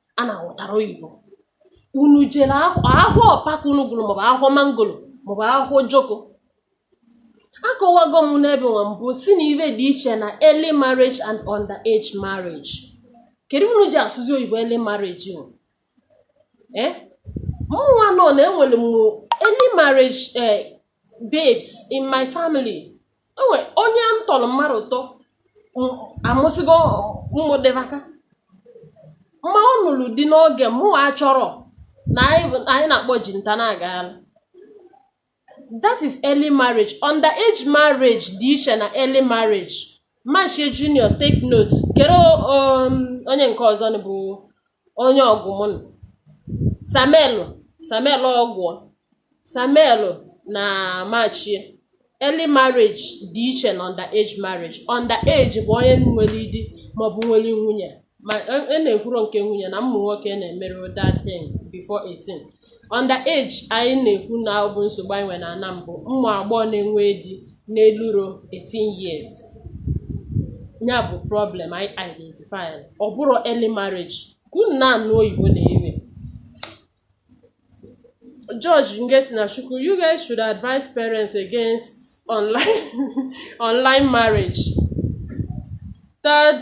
a na-aghọtarọ oyibo unu jere ahụ ụkpaka unu gụrụ maọbụ ahụ mangoro maọbụ ahụ joko akọwago m n'ebe nwa mbụ sị na iwe dị iche na early marriage and under age marriage kedu unu ji asụzi oyibo early marriage o eh? mụnwa nọ na enwere m early marriage eh, babes in my family enwe onye m tọrọ mmadụ ịtọ amụsịgo mụdebe aka maka ọ nụrụ di n'oge mụwa chọrọ na anyị na-akpọ ji nta na-agagharị that is early marriage under age marriage dị iche na early marriage Machie Junior take note kedu um, onye nke ọzọ bụ onye Ogwu m Samuel Samuel Ogwu Samuel na Machie early marriage dị iche na under age marriage under age bụ onye nwere di maọbụ nwere nwunye ma e, e na-ekwuro nke nwunye na ụmụ nwoke na-emerọ that thing before 18 Under age anyị na-ekwu na ọ bụ nsogbu anyị nwere n'Anam bụ ụmụ agbọghọ na-enwe di n'eluro 18 years ya bụ problem anyị identify ọ bụrọ early marriage ka unu na-anụ oyibo na iwe George Ngesi na Chukwu you guys should advise parents against online online marriage third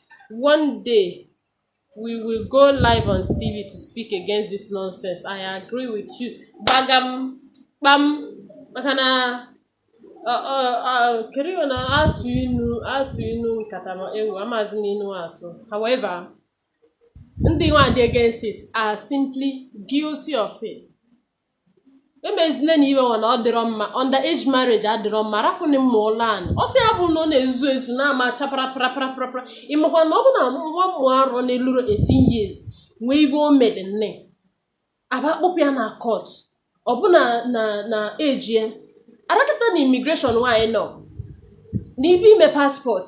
one day we will go live on TV to speak against this nonsense. I agree with you. Gbagam, gbam, makana. Uh, uh, uh, kedu iwe na-atụ inu a tụọ inu nkata ma ewo amazi m inu atụ however ndị nwa dị against it are simply guilty of it emezina na ive na ọ dịrọ mma under age marriage adịrọ mma rapụnị mmụ ụlọ anyị ọ sị ya bụ na ọ na-ezu ezu na-ama chapara paraparaparapara ịmakwa na ọ bụ na nwa mmụ arọ na-eluru 18 years nwee ive o mere nne aba kpụpụ ya na court ọ bụ na na ejie ara kịta na immigration nwaanyị nọ n'ibe ime passport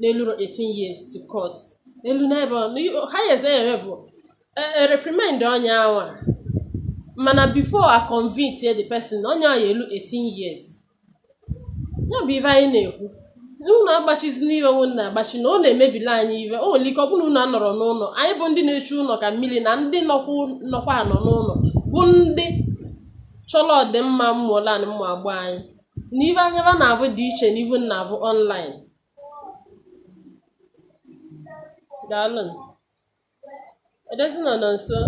n'elu 18 years to court elu n'ebe highest eme bụ e, e, reprimand onye awa mana before a convict the person onye awa elu 18 years ya bụ ive anyị na-ekwu unu agbachizina ive unu na-agbachi na ọ na-emebili anyị ive o nwere ike ọ bụrụ na anọrọ n'ụlọ anyị bụ ndị na-echu ụlọ ka mmiri na ndị nọkwa anọ n'ụlọ bụ ndị chọrọ ọdịmma mmụọla na mmụ agbọ anyị na ive anya ba na-avụ dị iche na ive unu na-avụ online daalụ edozi nọ nọ nso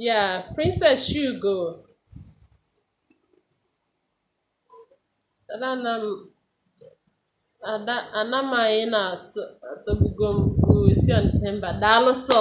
yeah princess shugo Ada Anam ada Anam a ị na-asụ atọgbugo m o we see on December daalụ sọ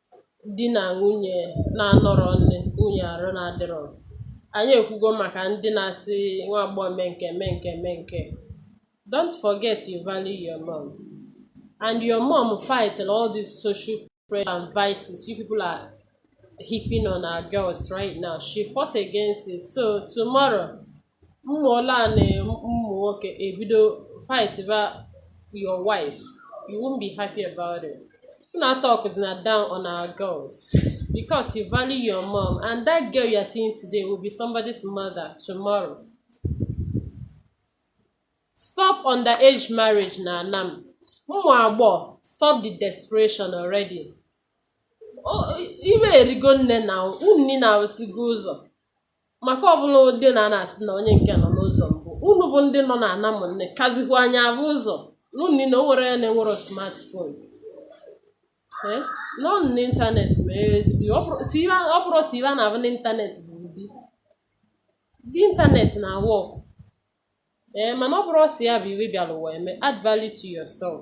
di na nwunye na-anọrọ nne nwunye arụ na-adịrọ anyị ekwugo maka ndị na-asị nwa agbọghọ mee nke mee nke mee nke don't forget you value your mom and your mom fight all these social pressure and vices you people are heaping on our girls right now she fought against it so tomorrow ụmụ ole a na ụmụ nwoke ebido fight ba your wife you won't be happy about it una talk is na down on our girls because you value your mom and that girl you are seeing today will be somebody's mother tomorrow stop underage marriage na anam ụmụ agbọ stop the desperation already iwe erigo nne na unu niile awụsịgo ụzọ maka ọbụla ụdị na a na-asị na onye nke nọ n'ụzọ mbụ unu bụ ndị nọ na Anam unu akazikwa anyị avụ ụzọ unu niile o nwere ya na-enwero smartphone Eh, nọ n'ịntanetị ma ezigbo ọ bụrụ sị ive- ọ bụrụ sị ive a na-avụ n'ịntanetị bụ ụdị dị ịntanetị na work ee mana ọ bụrụ sị ya bụ ive bịara ụwa eme add value to yourself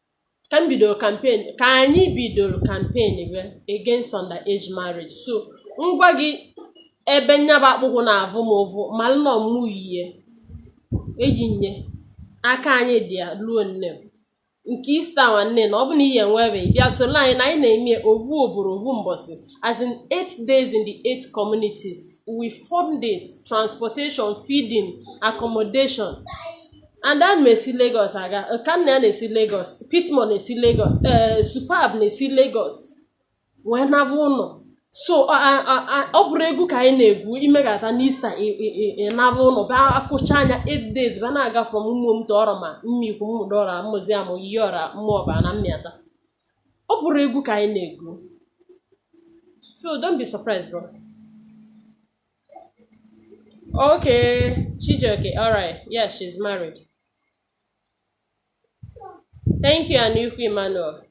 ka m bidoro campaign ka anyị bidoro campaign bịa against under age marriage so ngwa gị ebe nya bụ akpụkwụ na-avụ m ụvụ malụ na ọmụ yie eji nye aka anyị dị ya ruo nne m nke Easter nwanne na ọ bụ na ihe nwere bịa soro anyị na anyị na-eme ovu obodo ovu mbọsị as in eight days in the eight communities we fund it transportation feeding accommodation and ana m esi Lagos aga Okanna ya na-esi Lagos Pitmore na-esi Lagos ee eh, Superb na-esi Lagos wee naba ụlọ so ọ bụrọ egwu ka anyị na-egwu imegata na Easter ịnaba ụlọ ba akụcha anya 8 days ba na-aga from Ụmụem to Ọrọma Mmikwu Mmụdọra Mmụziam Iyiọra Mmụọba na Mmịata ọ bụrọ egwu ka anyị na-egwu so don't be surprised bro Okay, Chijioke. All right. Yeah, she's married. Thank you, Anuku Emmanuel.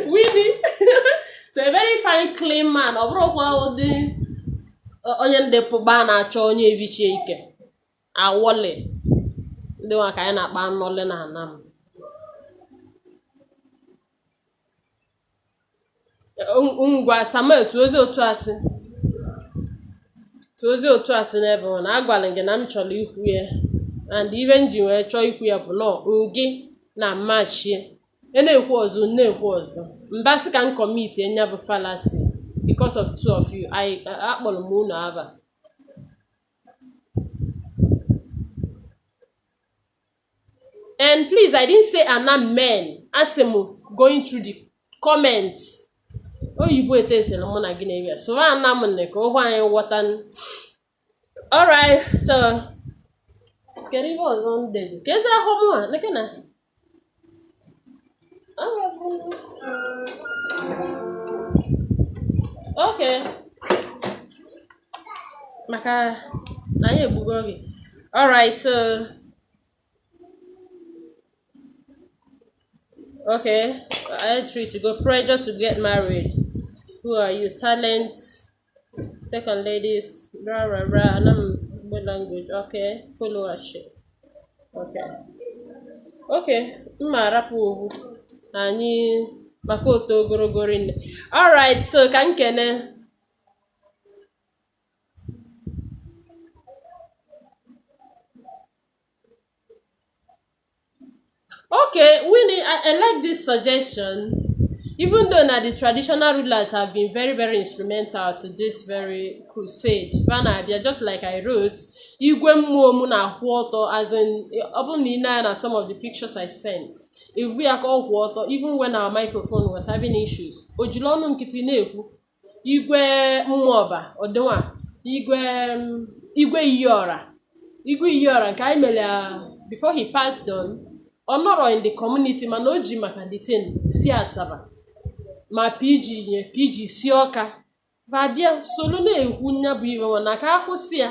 Winnie, to a very fine, clean man. Ọ bụrụkwa ụdị onye ndị pụba na-achọ onye evichi ike awọle ndị nwa ka anyị na-akpa anọle na Anam ngwa samuel tụọ ozi otu asị tụọ ozi otu asị n'ebe ọ na agwara m gị na m chọrọ ikwu ya and ive m ji wee chọọ ikwu ya bụ nọọ ngị na mmachie e na-ekwu ọzọ m na-ekwu ọzọ mba sị ka m commitie nya bụ fallacy because of two of you akpọrọ m unu ava and please i didn't say Anam men asị m going through the comments oyibo etesịrị mụ na gị na-eri ya soro ana m nne ka ụgwọ anyị ghọta alright so kedu ihe ọzọ m dezi ka ezi ahụ mụ a neke na okay maka na anyị egbugo oge alright so okay I treat to go pressure to get married who are you talent take on ladies blah blah blah and I'm good language okay followership okay okay mma arapụ owu anyị maka otu ogologo rinne alright so ka m kene Okay, Winnie, I, I like this suggestion. Even though now the traditional rulers have been very, very instrumental to this very crusade, va na-abịa, just like I wrote, Igwe Ụmụem na-akwụ ọtọ as in ọ bụrụ na ị nee anya na some of the pictures I sent ị vụ ya ka ọ kwụ ọtọ even when our microphone was having issues o jiri ọnụ nkịtị na-ekwu igwe Ụmụọba ọdịnwa igwe igwe iyiọra igwe iyiọra nke anyị mere before he passed on ọ nọrọ in the community mana o ji maka the thing si asaba ma pg ya pg si ọka babịa soro na-ekwu nya bụ ive nwa na ka a kwụsị ya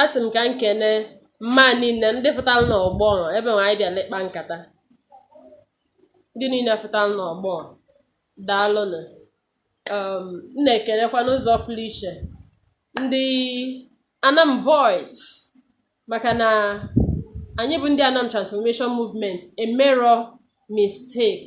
asị m ka m kene mma niile ndị pụtara n'ọgbọ ebe nwa anyị bịara ịkpa nkata ndị niile pụtara n'ọgbọ daalụnụ um, m na-ekelekwa n'ụzọ pụrụ iche ndị anam voice maka na anyị bụ ndị anam transformation movement emerọ mistake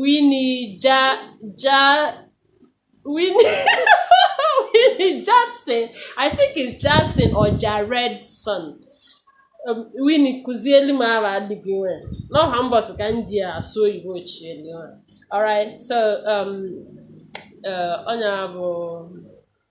Winnie Ja Ja Winnie Winnie Jackson I think it's Jackson or Jaredson um, Winnie kụzielu m ava adịghị nwe n'ọha mbọsị ka m ji asụ oyibo chielu alright so um, uh, honourable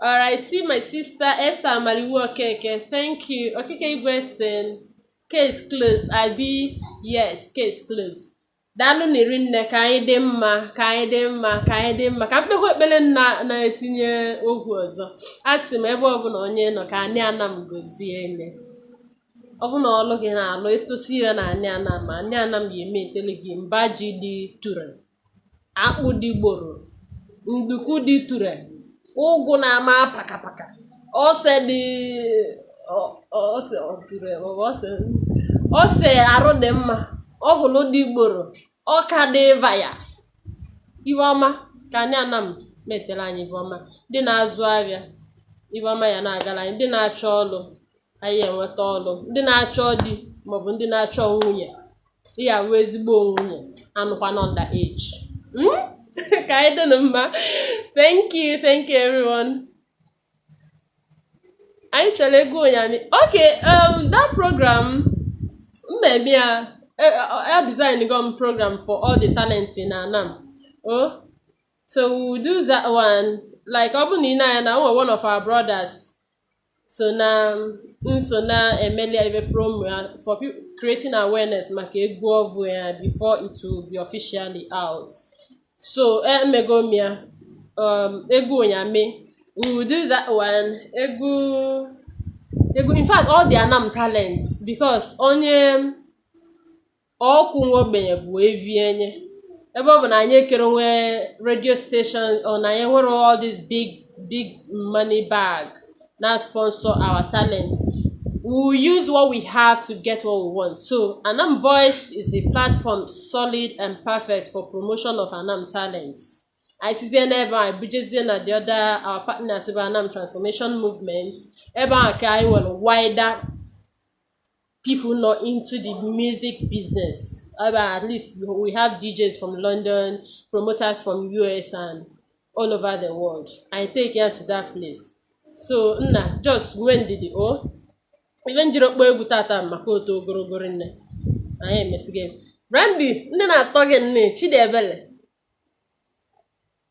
All right, see my sister Esther Amaliwu Okeke. Thank you. Okeke Igwesen. Case closed. I be yes, case closed. Daalụ nị rinne ka anyị dị mma ka anyị dị mma ka anyị dị mma ka m kpekwa ekpere na-etinye okwu ọzọ a sị m ebe ọbụla onye nọ ka anị Anam gozie nne ọ bụ na ọlụ gị na-alụ ị tụsị ive na anị Anam ma anị Anam ya emeetele gị mba ji dị ture akpụ dị gboro nduku dị ture ụgụ na-ama pakapaka ose dị ọ- ọ- ose ọ ture ọ bụ ose ose arụ dị mma ọkwụlụ dị gboro ọka dị vaya ive ọma ka anyị Anam meetele anyị ive ọma ndị na-azụ ahịa ive ọma ya na-agara anyị ndị na-achọ ọlụ anyị enweta ọlụ ndị na-achọ di maọbụ ndị na-achọ nwunye ihe awụ ezigbo nwunye anụkwana underage hmm? ka anyị dịnụ mma thank you thank you everyone anyị chọrọ egwu Onyame okay um, that program mmemme ya e, e, e design go m program for all the talent na Anam o so we do that one like ọ bụ na ị na-anya na nwe one of our brothers so na nso na-emeli ya ive promo ya for people creating awareness maka egwu ọvụụ ya before it will be officially out so emego m ya um, egwu Onyame we will do that one egwu egwu in fact all the Anam talents because onye ọkụ nwa ogbenye bụ evi enye ebe ọ bụ na anyị ekere nwe radio station or na anyị nwere all this big big money bag na sponsor our talent we will use what we have to get what we want so Anam Voice is a platform solid and perfect for promotion of Anam talents anyị sizie n'ebe anyị bujezie na the other our partners bụ Anam Transformation Movement ebe ahụ ka anyị nwere wider people nọ into the music business. Uh, at least we have DJs from London, promoters from US, and all over the world. Anyị take ya to that place. So, nna, just nwee ndidi o. Ive m jirọ kpọ egwu tata maka o to ogologo nne. Anyị emesigo. Brandy, ndị na-atọ gị nne, Chidiebele.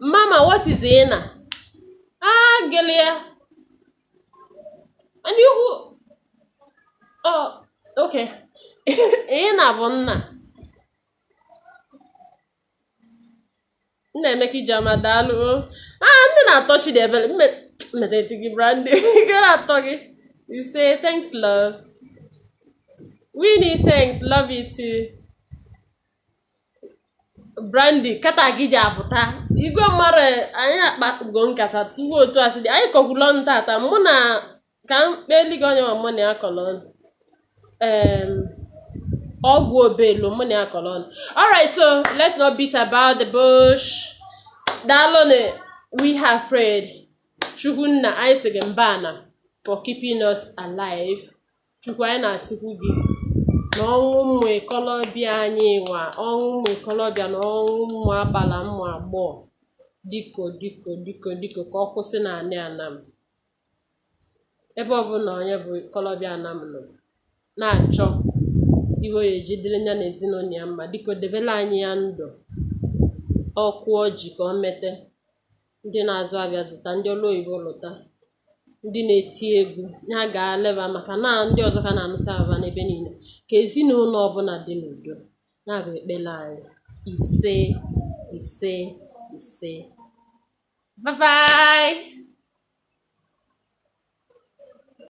Mama, what is Ena? Ah, Gelia. And you who? Oh, okay. Ena bụ nna. Nnaemeka Ijeọma daalụ. Ah, ndị na-atọ Chidiebere. Mmedeti gị Brandy. Gị na-atọ gị. You say thanks love. Winnie thanks love you too. brandi kata gị ji apụta igwe mmadụ anyị akpago nkata tupu otu asị dị anyị kọkwula ọnụ tata mụ na ka m kpeli gị onye ma mụ na ya kọlọ ọnụ Em, ọgwụ obelu mụ na ya kọlọ ọnụ alright so let's not beat about the bush daalụnụ we have prayed chukwu nna anyị sị gị mbana for keeping us alive Chukwu anyị na-asịkwu gị na ọnwụ ụmụ ikolobịa anyị nwa ọnwụ ụmụ ikolobịa na ọnwụ ụmụ agbala ụmụ agbọghọ diko diko diko diko ka ọ kwụsị na anị anam ebe ọbụla onye bụ ikolobịa anam nọ na-achọ ive ọ ya-eji dịrị ya na ezinụnọ ya mma diko debelu anyị ya ndụ ọ kụọ ji ka ọ mete ndị na-azụ avịa zụta ndị ọlụ oyibo lụta ndị na-eti egwu ya gaalụ va maka na ndị ọzọ ka a na-anụsa ava va n'ebe niile ka ezinụnọ ọbụla dị n'udo na-abụ ekpele anyị ise ise ise bye bye